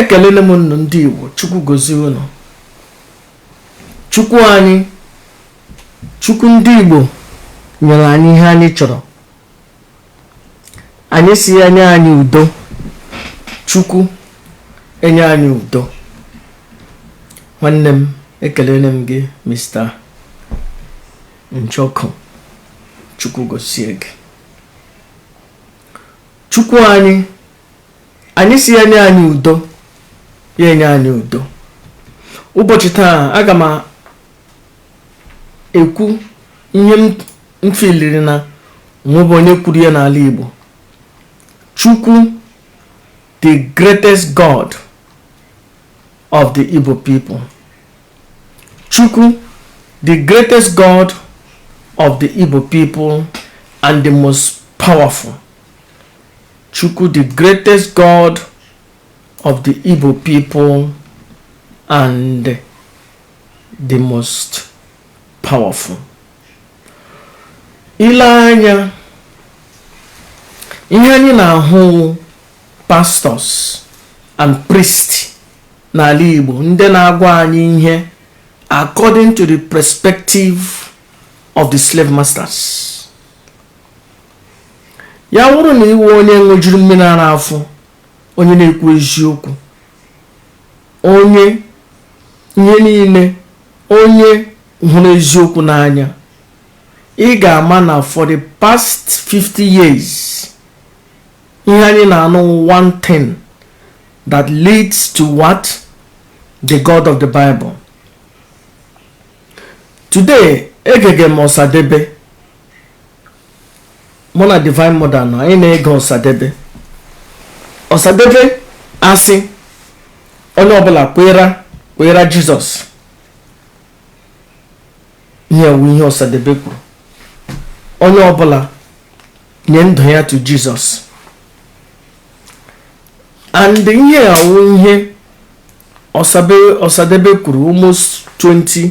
ekelele m ụnụ ndị igbo chukwu gozie ụnụ chukwu anyị chukwu ndị igbo nyere anyị ihe anyị chọrọ anyị si ya nye anyị udo chukwu enye anyị udo nwanne m ekelele m gị mr njoku chukwu gozie gị chukwu anyị anyị si ya nye anyị udo ya enye anyị udo ụbọchị taa aga m ekwu ihe m filiri na o nwebe onye kwuru ya n'ala Igbo Chukwu the greatest God of the Igbo people Chukwu the greatest God of the Igbo people and the most powerful Chukwu the greatest God of the Igbo people and the most powerful. I lee anya ihe anyị na-ahụ wụ pastors and priests n'ala Igbo ndị na-agwa anyị ihe according to the perspective of the slave masters Ya wụrụ na ị wụ onye ṅụjuru mmiri ara afọ onye na-ekwu eziokwu onye ihe niile onye hụrụ eziokwu n'anya ị ga-ama na for the past 50 years ihe anyị na-anụ one thing that leads to what the God of the Bible today egege m ọsadebe mụ na divine mother nọ anyị na-ege ọsadebe ọsadebe asị onye ọbụla kweera kweera Jesus ihe wụ ihe ọsadebe kwuru onye ọbụla nye ndụ ya to Jesus and ihe a wụ ihe ọsadebe kwuru almost 20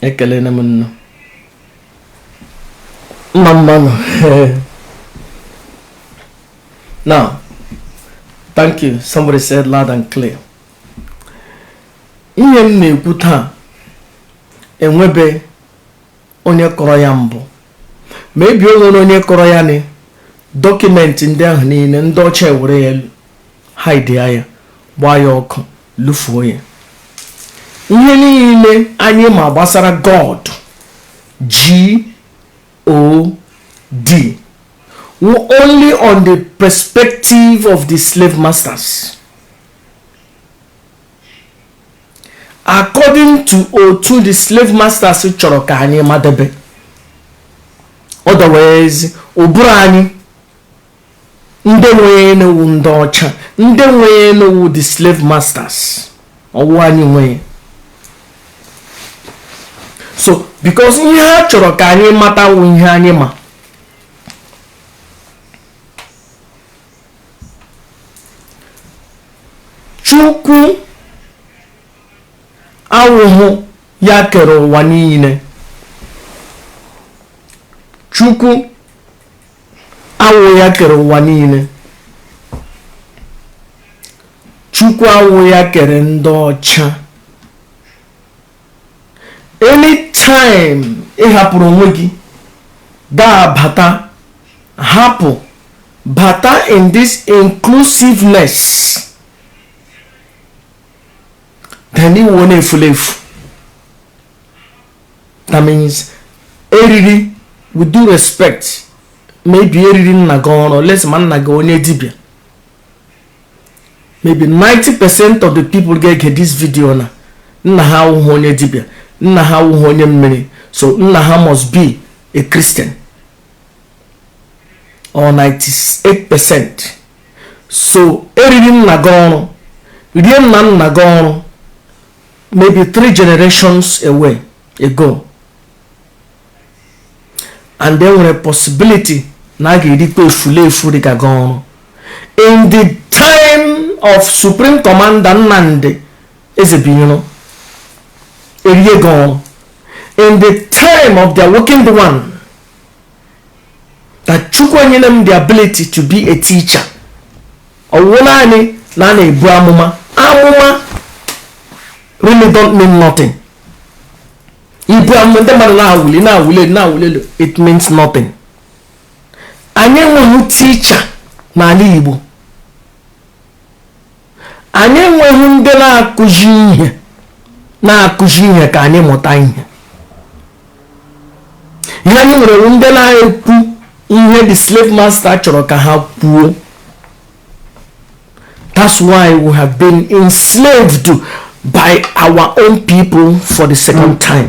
ekelere m ụnụ mma mma nụ now thank you somebody said loud and clear ihe m na-ekwu taa enwebe onye kọrọ ya mbụ maybe o nwere onye kọrọ ya na document ndị ahụ niile ndị ọcha ewere ya hide ya gbaa ya ọkụ lụfuo ya ihe niile anyị ma gbasara god g o d wụ only on the perspective of the slave masters according to otu the slave masters chọrọ ka anyị madebe otherwise ụbụrụ anyị ndị nwe ya wụ ndị ọcha ndị nwe ya wụ the slave masters ọ wụhụ anyị nwe ya so because ihe ha chọrọ ka anyị mata wụ ihe anyị ma chukwu awụhụ ya kere ụwa niile chukwu awụhụ ya kere ụwa niile chukwu awụhụ ya kere ndị ọcha anytime ị hapụrụ onwe gị dabata hapụ bata in this inclusiveness then ị wụ onye efulefu that means e riri with due respect maybe e riri nna gị ọrụ unless ma nna gị onye dibịa maybe 90 percent of the people ga-ege this video na nna ha awụghị onye dibịa nna ha awụghị onye mmiri so nna ha must be a christian or 98 percent so e riri nna gị ọrụ rie nna nna gị ọrụ maybe three generations away ago and e nwere possibility na a ga-erikwa efulefu dịka gị ọrụ in the time of supreme commander nnamdị ezebuiro erie gị ọrụ in the time of the awakened one na chukwu nyere m the ability to be a teacher ọ wụhụ naanị na a na-ebu amụma amụma really don't mean nothing ibu amụma ndị mmadụ na-awụli na-awụli na-awụli it means nothing anyị enweghị teacher n'ala igbo Anyị enweghị ndị na-akụzi ihe na-akụzi ihe ka anyị mụta ihe. Ihe anyị nwere wụ ndị na-ekwu ihe the slave master chọrọ ka ha kwuo. That's why we have been enslaved by our own people for the second time.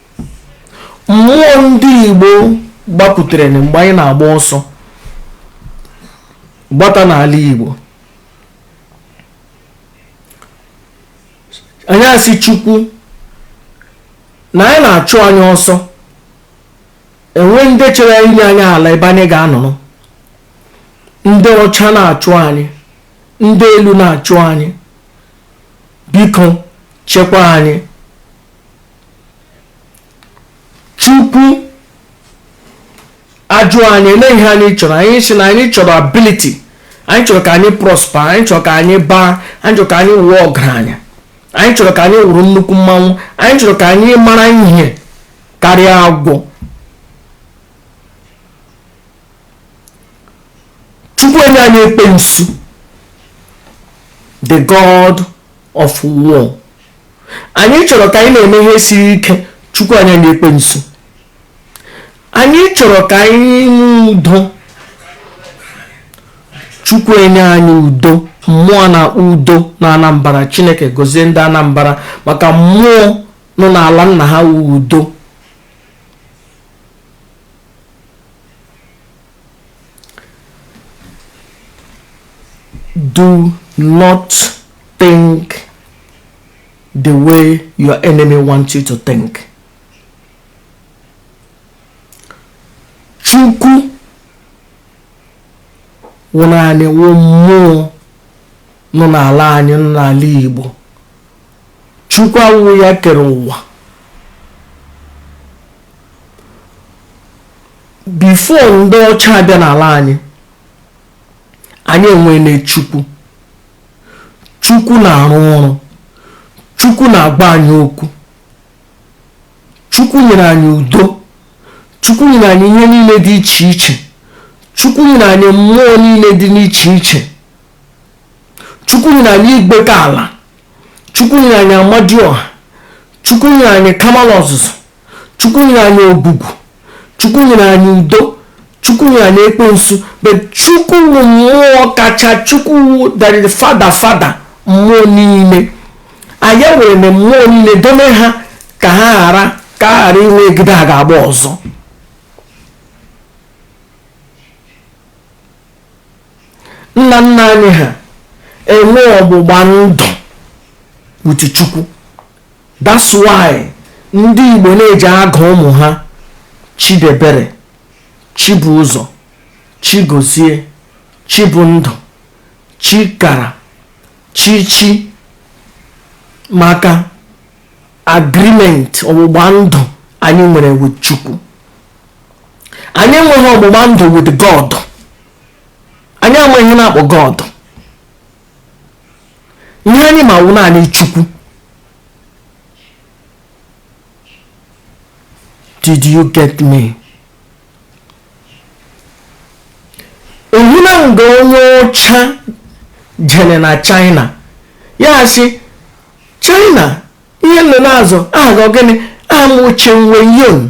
mmụọ ndị igbo gbapụtere mgbe anyị na-agba ọsọ gbata n'ala igbo anyị asị chukwu na anyị na-achụ anyị ọsọ enweghị ndị chere inye anyị ala ebe anyị ga-anọrọ ndị ọcha na-achụ anyị ndị elu na-achụ anyị biko chekwa anyị chukwu ajụ anyị ele ihe anyị chọrọ anyị sị na anyị chọrọ ability anyị chọrọ ka anyị prosper anyị chọrọ ka anyị baa anyị chọrọ ka anyị wụọ ọgaranya anyị chọrọ ka anyị wụrụ nnukwu mmanwụ anyị chọrọ ka anyị mara ihe karịa agwọ chukwu enye anyị ekwensu the god of war anyị chọrọ ka anyị na-eme ihe siri ike chukwu enye anyị ekwensu anyị chọrọ ka anyị nwee udo chukwu enye anyị udo mmụọ a na-akpọ udo na anambra chineke gozie ndị anambra maka mmụọ nọ n'ala nna ha udo do not think the way your enemy wants you to think. Chukwu wụ nna anyị wụ mmụọ nọ n'ala anyị nọ n'ala Igbo chukwu ahụ wụ ya kere ụwa before ndị ọcha abịa n'ala anyị anyị enwele chukwu chukwu na-arụ ọrụ chukwu na-agwa anyị okwu chukwu nyere anyị udo chukwu nyere anyị ihe niile dị iche iche chukwu nyere anyị mmụọ niile dị n'iche iche chukwu nyere anyị igwekala chukwu nyere anyị amadioha chukwu nyere anyị kamalu ozuzu chukwu nyere anyị ogwugwu chukwu nyere anyị udo chukwu nyere anyị ekwensu but chukwu wụ mmụọ kacha chukwu wụ that is father father mmụọ niile anyị were na mmụọ niile dome ha ka ha ghara ka a ghara inwe egide a ga-agba ọzọ nna nna anyị ha enwe ọgbụgba ndụ with Chukwu that's why ndị Igbo na-eji agụ ụmụ ha Chidebere Chibụzọ Chigozie Chibụndụ Chikara Chichi maka agreement ọgbụgba ndụ anyị nwere with Chukwu anyị enweghị ọgbụgba ndụ with God anyị amaghị ihe a na-akpọ God ihe anyị ma wụ naanị Chukwu did you get me ị hụna nga onye ọcha jere na China ya asị China ihe ụnụ na-aza aha gị gịnị aha m wụ Chin We Yon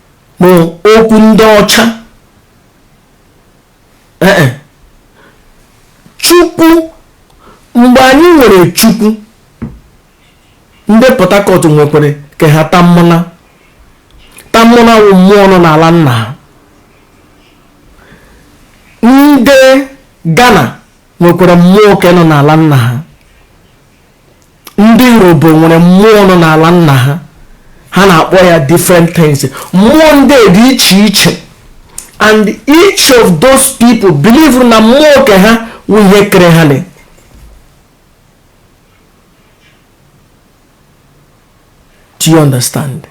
na okwu ndị ọcha ee eh, eh. chukwu mgbe anyị nwere chukwu ndị port harcourt nwekwere ke ha Tamuno Tamuno wụ mmụọ nọ n'ala nna ha ndị ghana nwekwara mmụọ ke nọ n'ala nna ha ndị Urhobo nwere mmụọ nọ n'ala nna ha ha na-akpọ ya different things mmụọ ndị dị iche iche and each of those people believe na mmụọ nke ha wụ ihe kere ha do you understand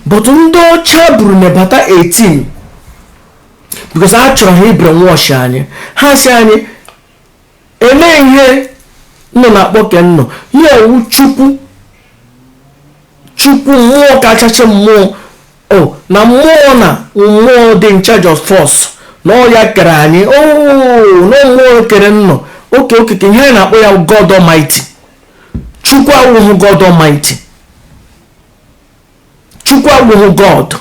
but ndị ọcha buru nebata 18 because a chọrọ ha i-brainwash anyị ha sị anyị Olee ihe ụnụ na-akpọ ke ụnụ? Ya wụ Chukwu, Chukwu mmụọ kachasị mmụọ, o na mmụọ na mmụọ dị in charge of us na ọ ya kere anyị o na mmụọ kere ụnụ okay okay ihe anyị na-akpọ ya God Almighty. Chukwu awụghị God Almighty. Chukwu awụghị God.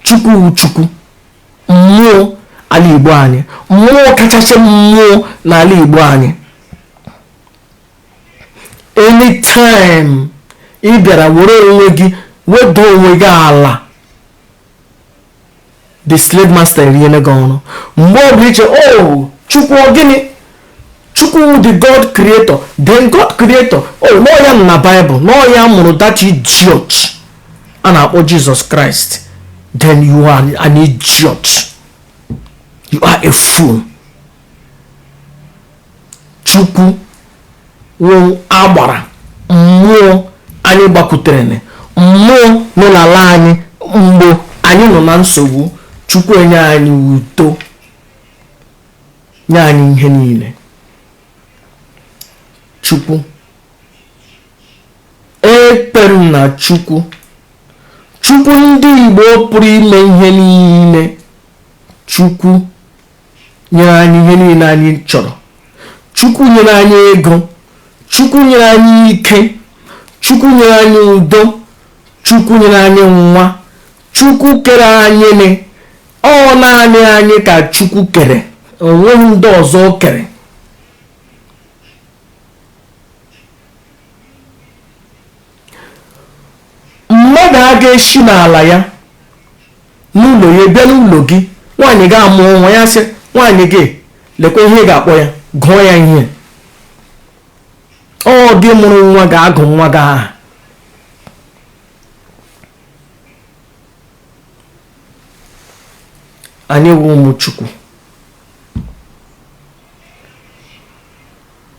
chukwu wụ chukwu mmụọ ala igbo anyị mmụọ kachasị mmụọ n'ala igbo anyị anytime ị bịara were onwe gị wedo onwe gị ala the slave master eriele gị ọnụ mgbe ọ bụla i che o oh, chukwu gịnị Chukwu wụ the God creator, then God creator, na ọ ya nọ na Bible, na ọ ya mụrụ that idiot a na-akpọ Jesus Christ, then you are an idiot, you are a fool. Chukwu wụ agbara mmụọ anyị gbakwutere mmụọ nọ n'ala anyị mgbe anyị nọ na nsogbu Chukwu enye anyị udo nye anyị ihe niile chukwu ekwe m na chukwu chukwu ndị igbo pụrụ ime ihe niile chukwu nyere anyị ihe niile anyị chọrọ chukwu nyere anyị ego chukwu nyere anyị ike chukwu nyere anyị udo chukwu nyere anyị nwa Chukwu kere anyị nị, ọ naanị anyị ka Chukwu kere, o nweghị ndị ọzọ o kere. Mmadụ a ga-esi n'ala ya n'ụlọ ya bịa n'ụlọ gị, nwaanyị gị amụọ nwa ya sị nwaanyị gị lekwa ihe ị ga-akpọ ya, gụọ ya ihe. Ọ gị mụrụ nwa ga-agụ nwa gị aha. anyị wụ ụmụ chukwu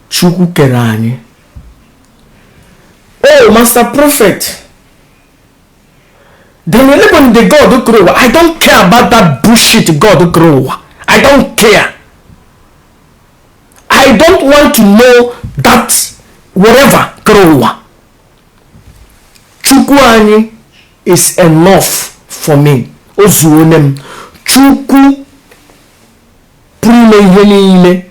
chukwu kere anyị o oh, master prophet then elebon the god kere ụwa i don't care about that bullshit god kere ụwa i don't care i don't want to know that whatever kere ụwa chukwu anyị is enough for me o zuone m chukwu pụrụ ime ihe niile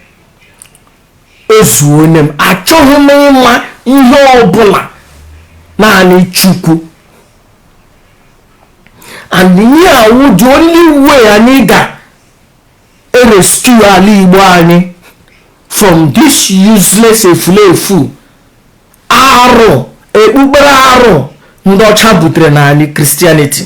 o zuone m achọghị m ịma ihe ọbụla naanị chukwu and ihe a wụ the only way anyị ga-erescue ala igbo anyị from this useless efulefu arụ ekpukpere arụ ndị ọcha butere n'ala Christianity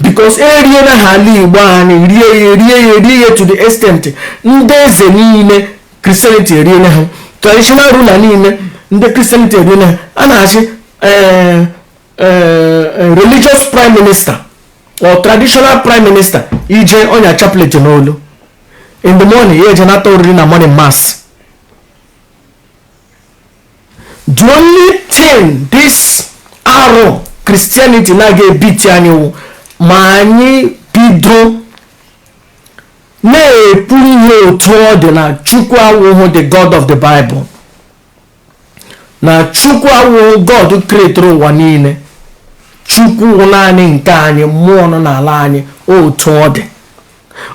because eriena ha ala igbo anyị rie ya rie ya rie ya to the extent ndị eze niile Christianity eriele ha traditional ruler niile ndị Christianity eriele ha a na-achị eh, eh, eh, religious prime minister or traditional prime minister ị je ọ nya chaplet n'olu in the morning ya eje nata oriri na morning mass the only thing this arụ christianity na-aga ebiti anyị wụ ma anyị bido na-ekwu ihe otu ọ dị na chukwu awụhụ the god of the bible na chukwu awụhụ god kretere ụwa niile chukwu wụ naanị nke anyị mmụọ nọ n'ala anyị otu ọ dị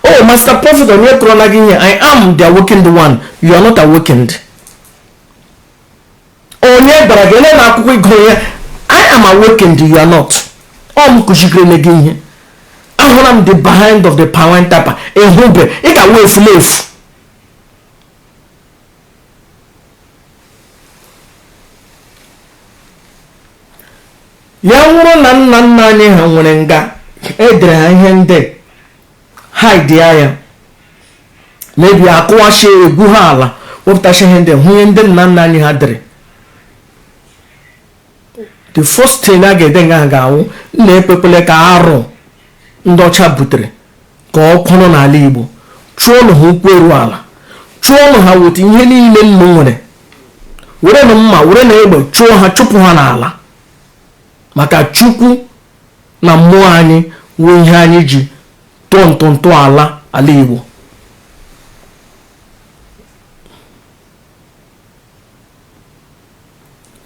oh master prophet onye kọrọla gị ihe i am the awakened one you are not awakened onye gwara gị ele na akwụkwọ ị gụrụ ihe i am awakened you are not ọ m kụzigirele gị ihe ahụla m the behind of the power tapa ehube ị ga-awụ efu na efu ya wụrụ na nna nna anyị ha nwere nga edere ha ihe ndị haidi ya maybe akụwasị egwu ha ala wepụtasị ihe ndị hụ ihe ndị nna nna anyị ha dere the first thing a ga-ede nga ga-awụ nnu ekwekwela ka arụ ndị ọcha butere ka ọ kwụrụ n'ala igbo chụọnụ ha ụkwụ eru ala chụọnụ ha weta ihe niile nnu nwere werenụ mma werenụ egbe chụọ ha chụpụ ha n'ala maka chukwu na mmụọ anyị wụ ihe anyị ji tọọ ntọntọ ala ala igbo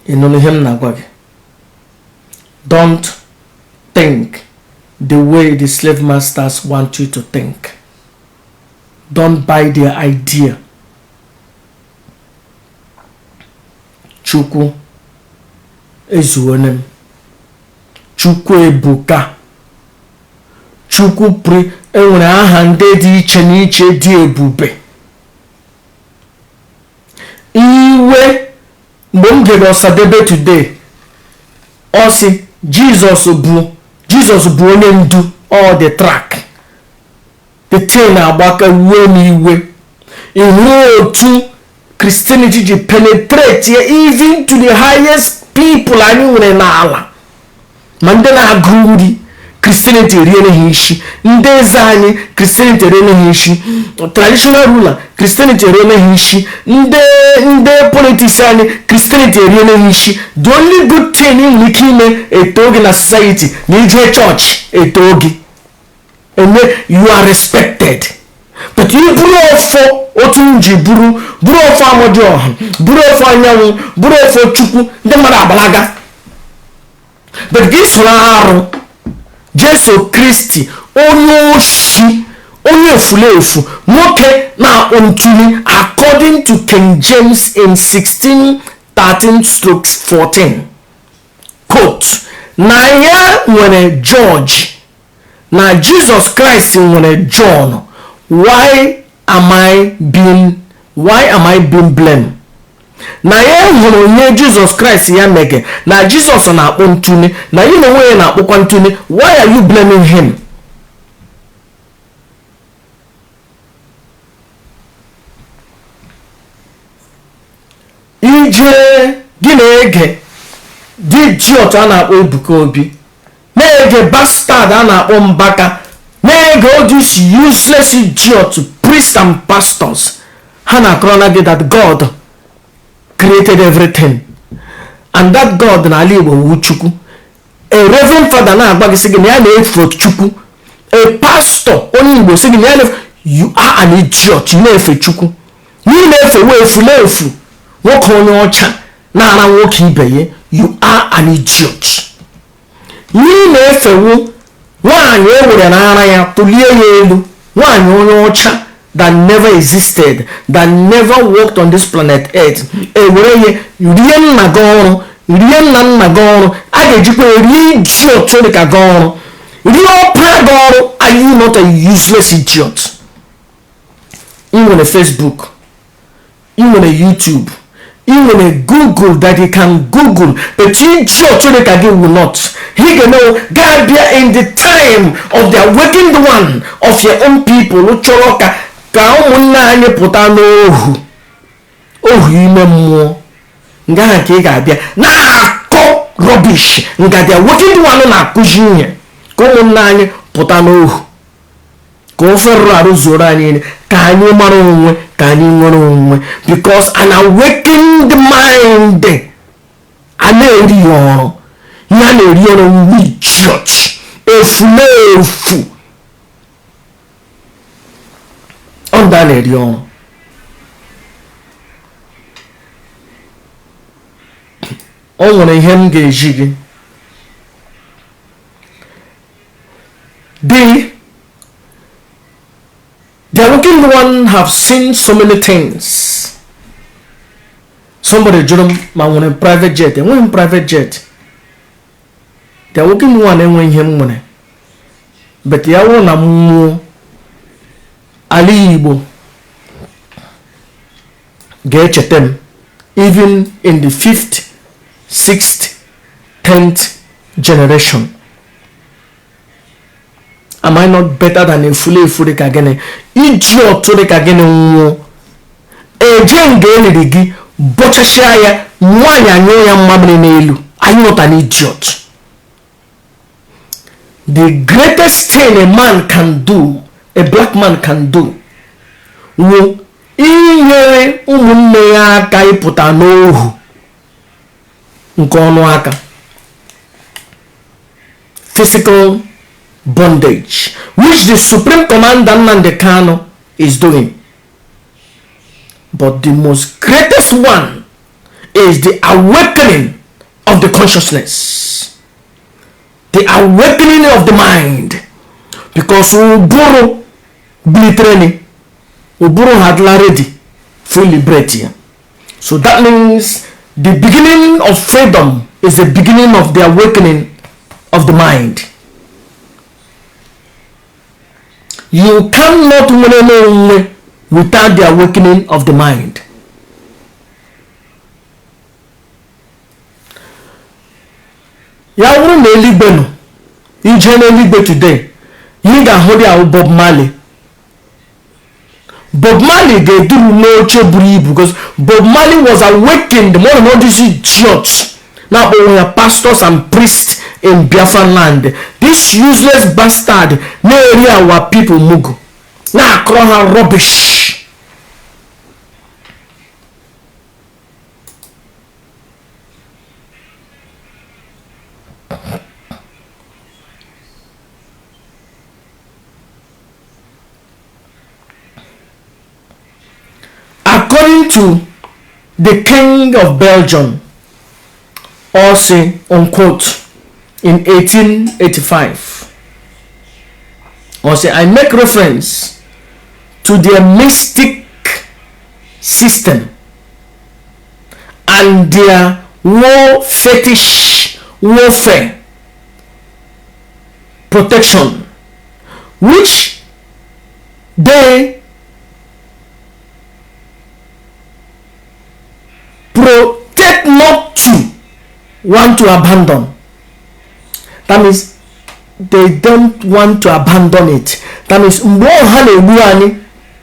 ị nụrụ ihe m na-agwa gị don't think the way the slave masters want you to think don't buy their idea chukwu ezuone m chukwu ebuka chukwu pụrụ enwere aha ndị dị iche n'iche dị ebube iwe mgbe m gere ọsadebe today ọ sị jizọs bụ jizọs bụ onye ndu ọ the track the train agbaka wuo m iwe ịhụ otu christianity ji penetrate even to the highest people anyị nwere n'ala ma ndị na-agụ uri kristianity eriele ha isi ndị eze anyị kristianity eriele ha isi traditional ruler kristianity eriele ha isi ndị ndị politiks anyị kristianity eriele ha isi the only good thing ị nwere ike ime e too gị na society na ije chọọchị e too gị eme you are respected but i buru ọfọ otu m ji buru buru ọfọ amadịọha buru ọfọ anyanwụ buru ọfọ chukwu ndị mmadụ agbalaga but gị soro arụ jesu kristi onye oshi onye efulefu nwoke na-akpọ n'otule according to king james in 16 13 strokes 14 quote na ya nwere george na jizọs kraịst nwere jọn why am i being why am i being blamed na ya hụrụ ihe jizọs kraịst ya mege na jizọs na-akpọ n'otune na ya n'onwe ya na-akpọkwa n'otune why are you blaming him ije gị na-ege the idiot a na-akpọ ebuka obi na-ege bastard a na-akpọ mbaka na-ege all this useless idiot priests and pastors ha na-akọrọ na gị that god created everything and that god na ala igbo wụ chukwu a reverend father na-agwa gị sị gị na ya na-efe chukwu a pastor onye igbo sị gị na ya na-efe you are an idiot ị na-efe chukwu na ị na-efewe efunefu nwoke onye ọcha na-ara nwoke ibe ya you are an idiot Ị na-efewu nwaanyị o were ara ya tụlie ya elu, nwaanyị onye ọcha that never existed, that never walked on this planet earth, e were ya rie nna gị ọrụ, rie nna nna gị ọrụ, a ga-ejikwa rie idiot dị ka gị ọrụ, rie ọpara gị ọrụ, are you not a useless idiot? ị nwere Facebook ị nwere YouTube ị nwere Google that ị can Google but you sure chere ka gị will not ị ga-abịa in the time of the awakened one of your own people chọrọ ka ka ụmụnna anyị pụta n'ohu ohu ime mmụọ nga ahụ ka ị ga-abịa na-akọ rọbish nga the awakened one na-akụzi ihe ka ụmụnna anyị pụta n'ohu ka ofe rụrụ arụ zuoro anyị niile ka anyị mara onwe ka anyị nwere onwe because an awakened mind a na-eri ya ọrụ ya na-eri ọrụ ndị chọọchị efunefu ọ ndị a na-eri ọrụ o nwere ihe m ga-ezi gị The, the Awoken one have seen so many things. Somebody jụrụ m ma m nwere private jet enweghị m private jet the Awoken one enweghị ihe m nwere but ya wụrụ na mmụọ ala Igbo ga-echeta m even in the fifth sixth tenth generation am I not better than efule efu dị ka gịnị iji ọtụ dị ka gị nwụọ e jee nga e liri gị bọchasịa ya nwaanyị anyụọ ya mmamịrị n'elu anyị nọta na idiot the greatest thing a man can do a black man can do wụ inyere ụmụnne ya aka ịpụta n'ohu nke ọ nọ aka physical bondage which the supreme commander Nnamdi Kanu is doing but the most greatest one is the awakening of the consciousness the awakening of the mind because ụbụrụ bilitere ụbụrụ ha adịla ready fully liberate ya so that means the beginning of freedom is the beginning of the awakening of the mind you cannot nwere onwe without the awakening of the mind ya wụrụ na eluigwe nọ i jee n'eluigwe today ị ga-ahụ there wụ Bob Marley bob marley ga-eduru n'oche buru ibu because bob marley was awakened man not all these idiots na-akpọ onwe ya pastors and priests in biafra land this useless bastard na-eri our people mugu na-akọrọ ha rubbish according to the king of belgium ọ sị unquote in 1885 ọ sị i make reference to their mystic system and their war fetish warfare protection which they protect not to want to abandon that means they don't want to abandon it that means mgbe ahụ ha na-egbu anyị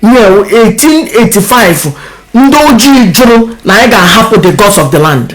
year 1885 ndị ojii jụrụ na anyị ga-ahapụ the gods of the land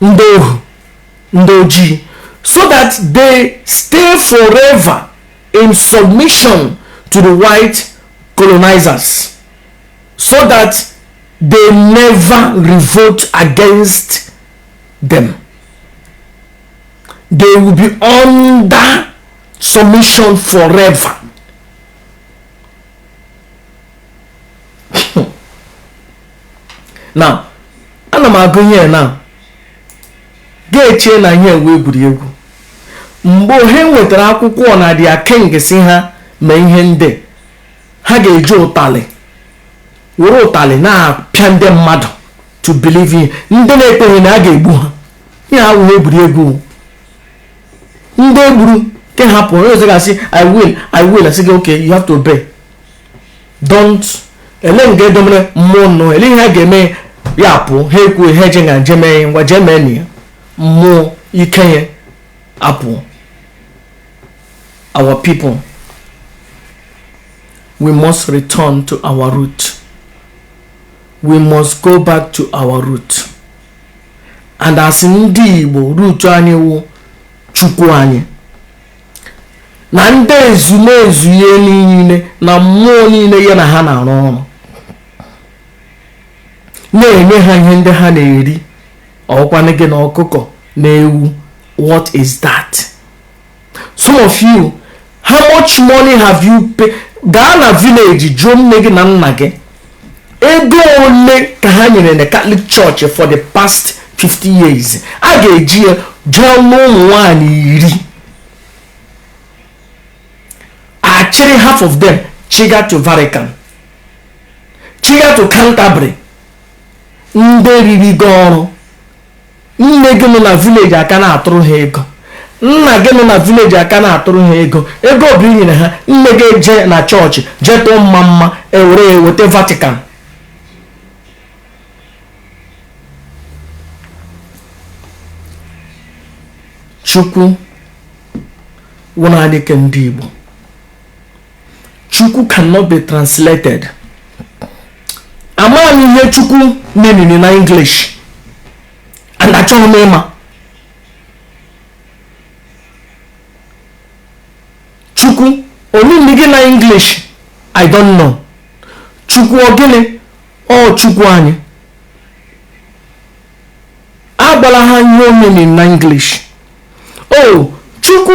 ndị ohu ndị ojii so that they stay forever in submission to the white colonizers so that they never revolt against them they will be under submission forever na ana m agụ ihe na ga-eche na ihe wụ egwuregwu mgbe ha wetara akwụkwọ na their king sị ha mee ihe ndị ha ga-eji ụtalị were ụtalị na-apịa ndị mmadụ to believe in ndị na-ekweghị na a ga-egbu ha ihe awụghị egwuregwu ndị e gburu ke hapụ onye ọzọ ga-asị i will i will asị gị okay you have to obey don't ele nga e domere mmụọ nnọọ ele ihe a ga-eme ya apụ ha ekwu ihe je nga nje mee ngwa jee mee na ya mmụọ ike ya apụ our people we must return to our root we must go back to our root and as ndị Igbo root anyị wụ chukwu anyị na ndị ezumezu ya niile na mmụọ niile ya na ha na-arụ ọrụ na-enye ha ihe ndị ha na-eri ọ wụkwanụ ji na ọkụkọ na ewu what is that some of you how much money have you pay gaa na village jụọ nne gị na nna gị ego ole ka ha nyere na katọlik chọọchị for the past 50 years a ga-eji ya jụọ n'ụmụ nwanyị iri a chịrị half of them chịga to vatican chịga to canterbury ndị riri gị ọrụ nne gị nọ na village a ka na-atụrụ ha ego nna gị nọ na village a ka na-atụrụ ha ego ego ọ bụ i nyere ha nne gị eje na chọọchị jee tụọ mmamma e were ya weta vatican chukwu wụ naanị ke ndị igbo chukwu cannot be translated amaghị ihe chukwu meanịrị na english and achọghị m ịma chukwu ọ mean gịnị na english i don't know chukwu ọ gịnị o chukwu anyị agwala ha ihe ọ meanịrị na english o oh, chukwu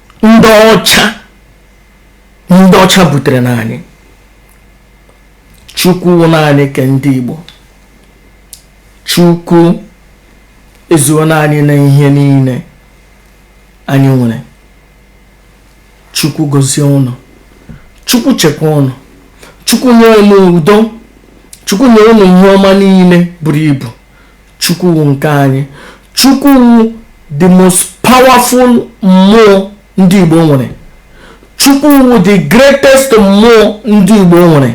ndị ọcha ndị ọcha butere na anyị chukwu naanị ke ndị igbo chukwu ezuona anyị na ihe niile anyị nwere chukwu gozie ụnụ chukwu chekwa ụnụ chukwu nye ụnụ udo chukwu nye ụnụ ihe ọma niile buru ibu Chukwu nke anyị. Chukwu the most powerful mmụọ ndị Igbo nwere. Chukwu the greatest mmụọ ndị Igbo nwere.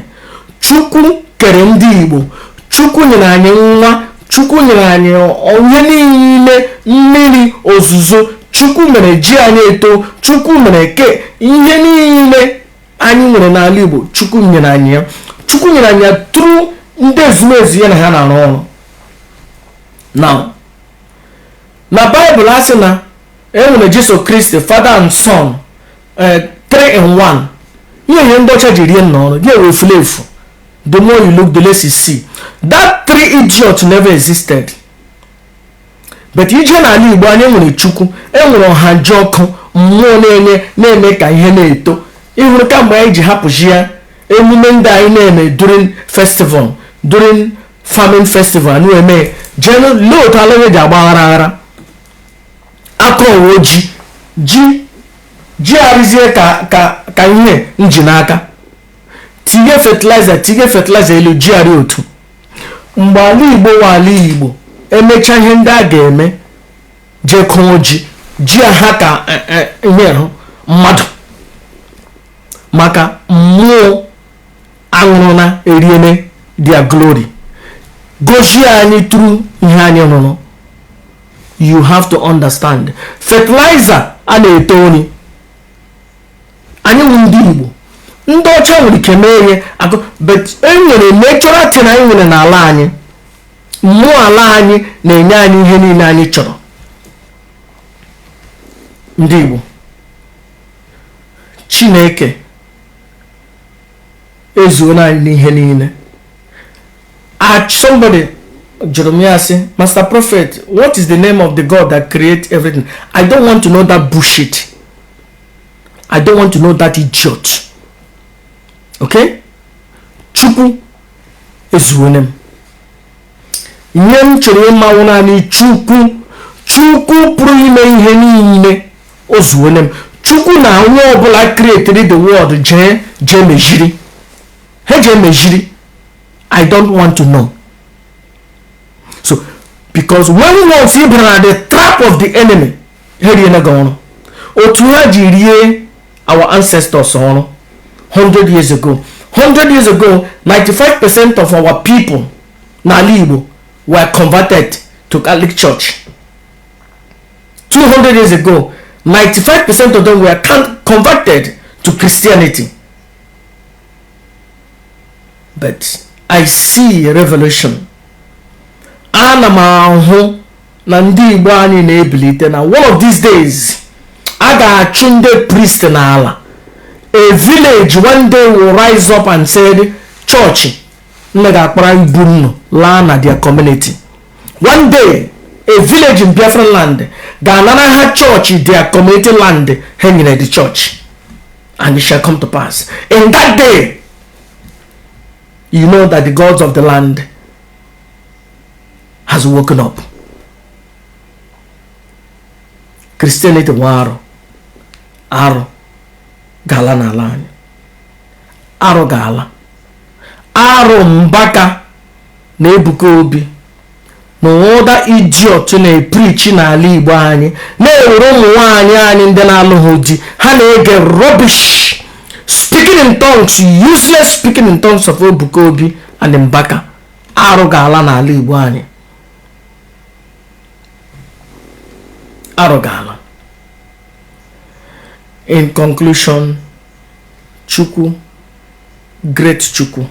Chukwu kere ndị Igbo. Chukwu nyere anyị nwa. Chukwu nyere anyị ihe niile mmiri ozuzo. Chukwu mere ji anyị eto. Chukwu mere ke ihe niile anyị nwere n'ala Igbo. Chukwu nyere anyị ya. Chukwu nyere anyị ya tụrụ ndị ezumezu ya na ha na-arụ ọrụ. na na baịbụl a sị na enwere jesu kristi father and son 3 eh, in 1 ihe ihe ndị ọcha ji rie nnu ọrụ gị ewe efule efu the more you look the less you see that three idiot never existed but i jee n'ala igbo anyị nwere chukwu enwere ọhajiọkụ mmụọ na-enye na-eme ka ihe na-eto ịhụrụ kamgbe anyị ji hapụsịa emume ndị anyị na-eme during festival during farming festival nu eme jenu lee otu ala anyị ji agba aghara aghara a kọwa ji ji ji arụzie ka ka ka ihe m ji n'aka tinye fertilizer tinye fertilizer elu ji arị otu mgbe ala igbo wụ ala igbo e mechaa ihe ndị a ga-eme jee kụọ ji ji a ha ka eh, eh, ihe hụ mmadụ maka mmụọ anwụrụ na eriele their glory gozie anyị through ihe anyị rụrụ you have to understand fertilizer a na-eto nri anyị wụ ndị igbo ndị ọcha nwere ike mee ihe akụ but enwere natural thing anyị nwere n'ala anyị mmụọ ala anyị na-enye anyị ihe niile anyị chọrọ ndị igbo chineke ezuola anyị n'ihe niile somebody jụrụ m ya sị master prophet what is the name of the god that create everything i don't want to know that bullshit i don't want to know that idiot okay chukwu ezuole m ihe m chọrọ ịma wụ naanị chukwu chukwu pụrụ ime ihe niile o zuole m chukwu na onye ọbụla kreatiri the world jee jee meziri ha jee meziri i don't want to know so because when once ị bara na the trap of the enemy ha eriela gị ọrụ otu ha ji rie our ancestors ọrụ 100 years ago 100 years ago 95 percent of our people n'ala Igbo were converted to Catholic Church 200 years ago 95 percent of them were converted to Christianity but I see a revelation ana m ahụ na ndị igbo anyị na-ebilite na one of these days a ga-achụ ndị priest n'ala a village one day will rise up and say chọọchị nnu ga-akpara ibu nnu laa na their community one day a village in biafra land ga-anara ha chọọchị their community land ha nyere the church and it shall come to pass in that day you know that the gods of the land has woken up Christianity wụ arụ arụ ga-ala n'ala anyị arụ ga-ala arụ mbaka na ebuka obi na other idiot na-eprichi n'ala igbo anyị na-ewere ụmụ nwanyị anyị ndị na-alụghị di ha na-ege rubbish speaking in tongues useless speaking in tongues of ebuka obi and mbaka arụ ga-ala n'ala Igbo anyị arụ ga-ala in conclusion Chukwu great Chukwu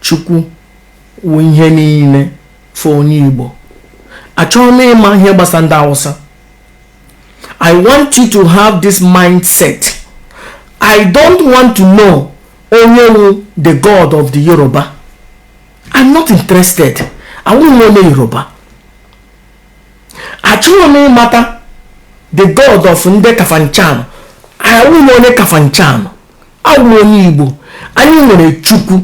Chukwu wụ ihe niile for onye Igbo achọghị m ịma ihe gbasa ndị Hausa I want you to have this mindset I don't want to know onye wu the god of the yoruba i'm not interested awụghị m onye yoruba achọghị m ịmata the god of ndị kafanchan awụghị m onye kafanchan awụ m onye igbo anyị nwere chukwu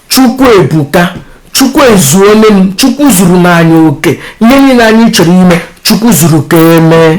chukwu ebuka chukwu ezuole m chukwu zuru anyị oke ihe niile anyị chọrọ ime chukwu zuru ka emee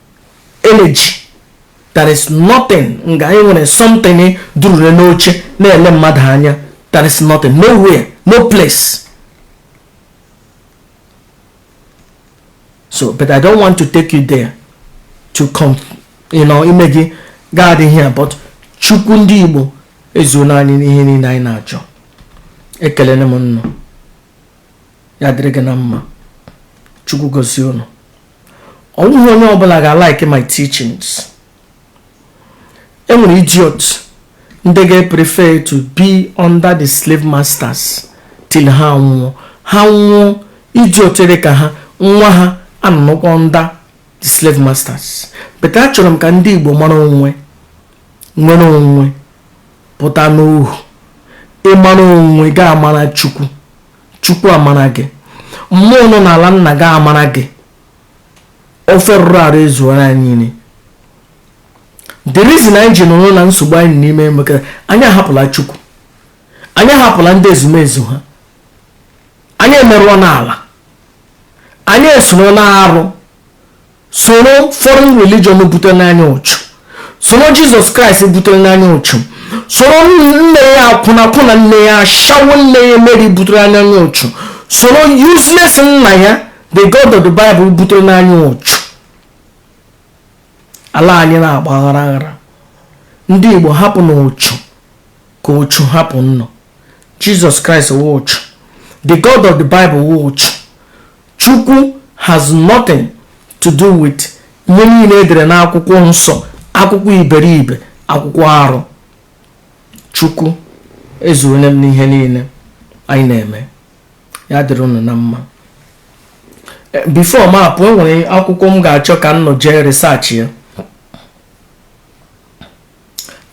energy there is nothing nga anyị nwere something durure n'oche na-ele mmadụ anya there is nothing nowhere no place so but i don't want to take you there to come you know ime gị gaa dị here but chukwu ndị igbo ezuola anyị n'ihe niile anyị na-achọ ekelele m nnọọ ya dịrị gị na mma chukwu gozie unu ọ wụghị onye ọbụla ga-alike my teachings enwere idiot ndị ga-eprefe to be under the slave masters till ha nwụọ ha mụọ idiot dị ka ha nwa ha anọkwa under the slave masters but achọrọ m ka ndị Igbo mara onwe nwere onwe pụta n'ohu ị mara onwe gị amara chukwu chukwu amara gị mmụọ nọ n'ala nna gị amara gị ofe rụrụ arụ ezuwara anyị niile the reason anyị ji nọrọ na nsogbu anyị n'ime maka anyị ahapụla chukwu anyị ahapụla ndị ezumezu ha anyị emerụọla ala anyị esoro na-arụ soro foreign religion buterena anyị ụchụ soro jizọs kraịst buterena anyị ụchụ soro nne ya akwụnakwụna nne ya ashawo nne ya meri butere anyị ụchụ soro useless nna ya the god of the bible buterena anyị ụchụ ala anyị na-agba aghara aghara ndị igbo hapụnụ ụchụ ka ụchụ hapụ unu jizọs kraịst wụ ụchụ the god of the bible wụ ụchụ Chukwu has nothing to do with ihe niile edere n'akwụkwọ nsọ, akwụkwọ iberibe, akwụkwọ arụ. Chukwu ezuole m n'ihe niile anyị na-eme. Ya dịrị unu na mma. Eh, before m apụ, enwere akwụkwọ m ga-achọ ka unu jee research ya.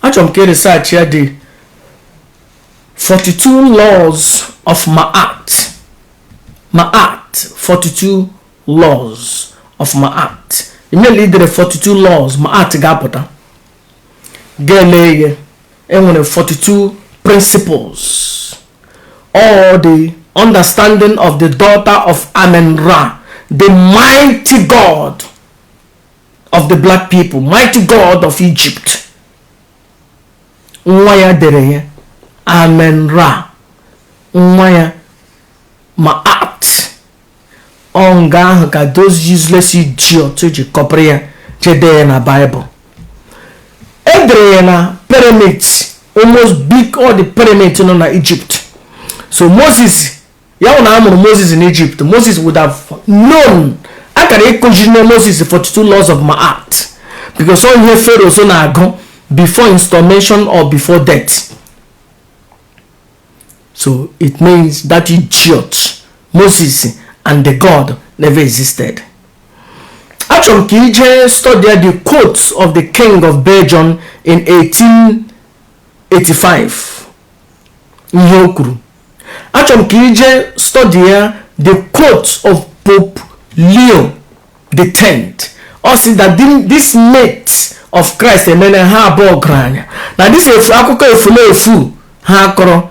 achọrọ m ka ị research ya the 42 laws of ma'at ma'at 42 laws of ma'at immediately idere 42 laws ma'at ga-apụta ga-ele ihe enwere 42 principles or the understanding of the daughter of amen ra the mighty god of the black people mighty god of egypt nwa ya dere ya amen ra nwa ya ma'at ọ nga ahụ ka those useless idiot ji kọpịrị ya jee dee ya na bible edere ya na pyramid almost big all the pyramid nọ na egypt so moses ya wụ na a mụrụ moses in egypt moses would have known a gara ịkụzirina moses 42 laws of ma'at because ọ ihe pharaohs na-agụ before installation or before death so it means that idiot moses and the god never existed achọrọ m ka i jee study the quotes of the king of belgium in 1885 ihe o kwuru achọrọ m ka i jee study ya the quote of pope leo the tenth ọ sị that this myth of christ emene ha abụọ ọgaranya na this efu akụkọ efulefu ha akọrọ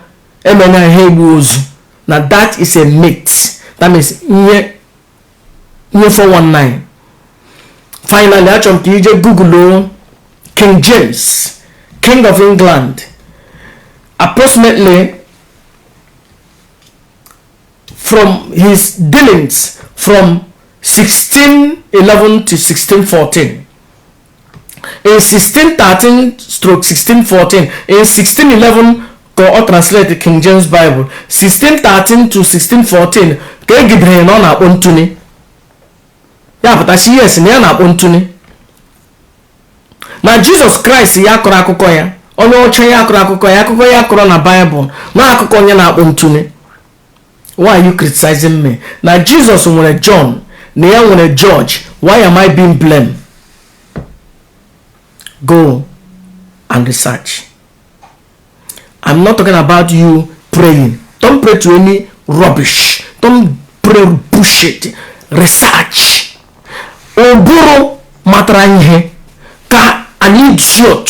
emena ha egbu ozu na that is a myth that means ihe ihe 419 finally achọrọ m ka ije google king james king of england approximately from his dealings from 1611 to 1614 in 1613 stroke 1614 in 1611 ka a translate king james bible 1613 to 1614 ka e gidere na ọ na-akpọ ntụnye ya pụta sị yes na ya na-akpọ ntụnye na jizọs kraịst ya kọrọ akụkọ ya onye ọcha ya kọrọ akụkọ ya akụkọ ya kọrọ na baịbụl na akụkọ onye na-akpọ ntụnye why are you criticizing me na jesus nwere john na ya nwere george why am i being blamed go and research i'm not talking about you praying don't pray to any rubbish don't pray bullshit research ụbụrụ matara ihe ka an idiot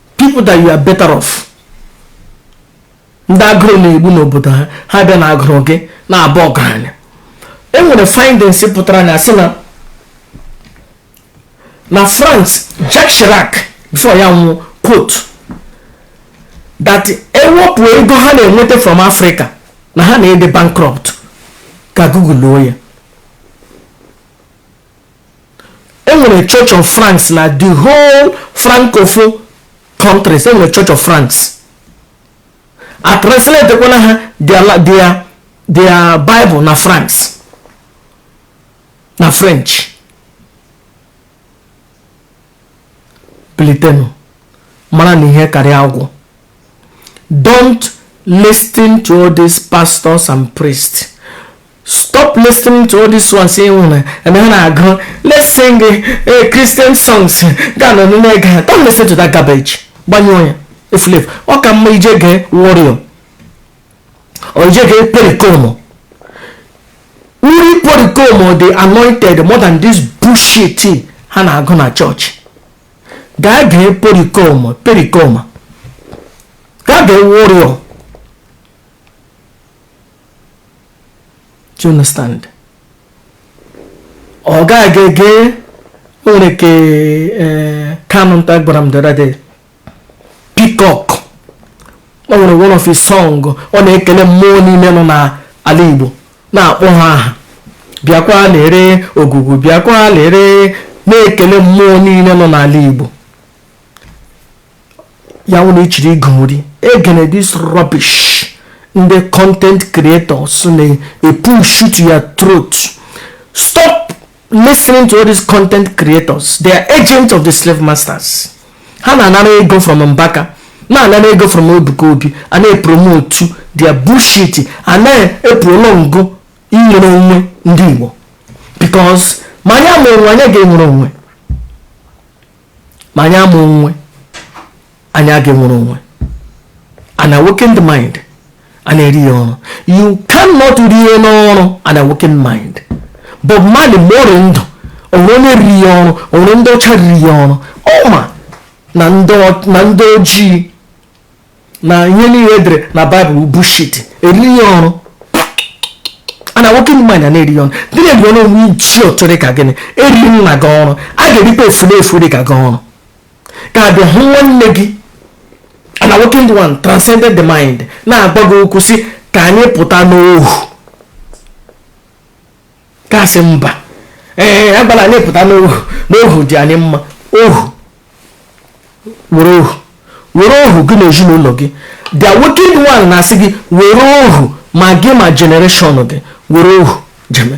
people that you are better off ndị agụrụ na-egbu n'obodo ha ha bịa na agụrụ gị na-aba ọgaranya e nwere findings pụtara na-asị na na france jacques chirac before ya nwụọ quote that ewepụ ego ha na-enweta from africa na ha na-adị bankrupt gaa google ya enwere church of france na the whole francophone countries enwere church of france a translate kwana ha their their bible na france na french bilitenụ maranụ ihe karịa agwọ don't listen to all these pastors and priests stop listening to all these ones e nwere ha na-agụ let's sing a christian songs ga ụnụ na-ege don't listen to that garbage gbanyụọ ya efulefu ọ ka mma i jee gee warrior or jee gee pericoma uri pericoma dị anointed more than this bullshit ha na-agụ na church gaa gee pericoma pericoma gaa gee warrior do you understand or gaa gee e nwere nke eh, kanụ nta gwara m the other day Peacock o nwere one of his song ọ na-ekele mmụọ niile nọ n'ala Igbo na-akpọ ha aha bịakwa lere ogugu bịakwa lere na-ekele mmụọ niile nọ n'ala Igbo ya wụ na ichiri igori egene this rubbish ndị content creators na-epushu to your throat stop listening to all these content creators they are agents of the slave masters ha na-anara ego from mbaka na-anara ego from ebuka obi a na-epromotu their bullshit a na-eprolongo inwere onwe ndị igbo because ma anyị ama onwe anyị ga-enwere onwe ma anyị ama onwe anyị aga enwere onwe an awakened mind a na-eri ya oru you cannot rie n'oru an awakened mind bob marley mgbe ọ rị ndụ o nwere onye riri ya oru o nwere ndị ọcha riri ya oru ọ ma na ndị ojii na ihe niile e dere na bible bullshit e riri ya oru an awakened mind a na-eri oru ndị a na-eri oru wụ idiot rị ka gị e riri nna gị oru a ga-erikwa efulefu rị ka gị oru ka a bịa hụ nwanne gị an awakened one transcended the mind na-agwa gị okwu sị ka anyị pụta n'ohu a sị mba ee agbara anyị pụta n'ohu n'ohu dị anyị mma ohu wụrụ ohu wụrụ ohu gị na ezinụlọ gị the awakened one na-asị gị wụrụ ohu ma gị ma generation gị wụrụ ohu jeme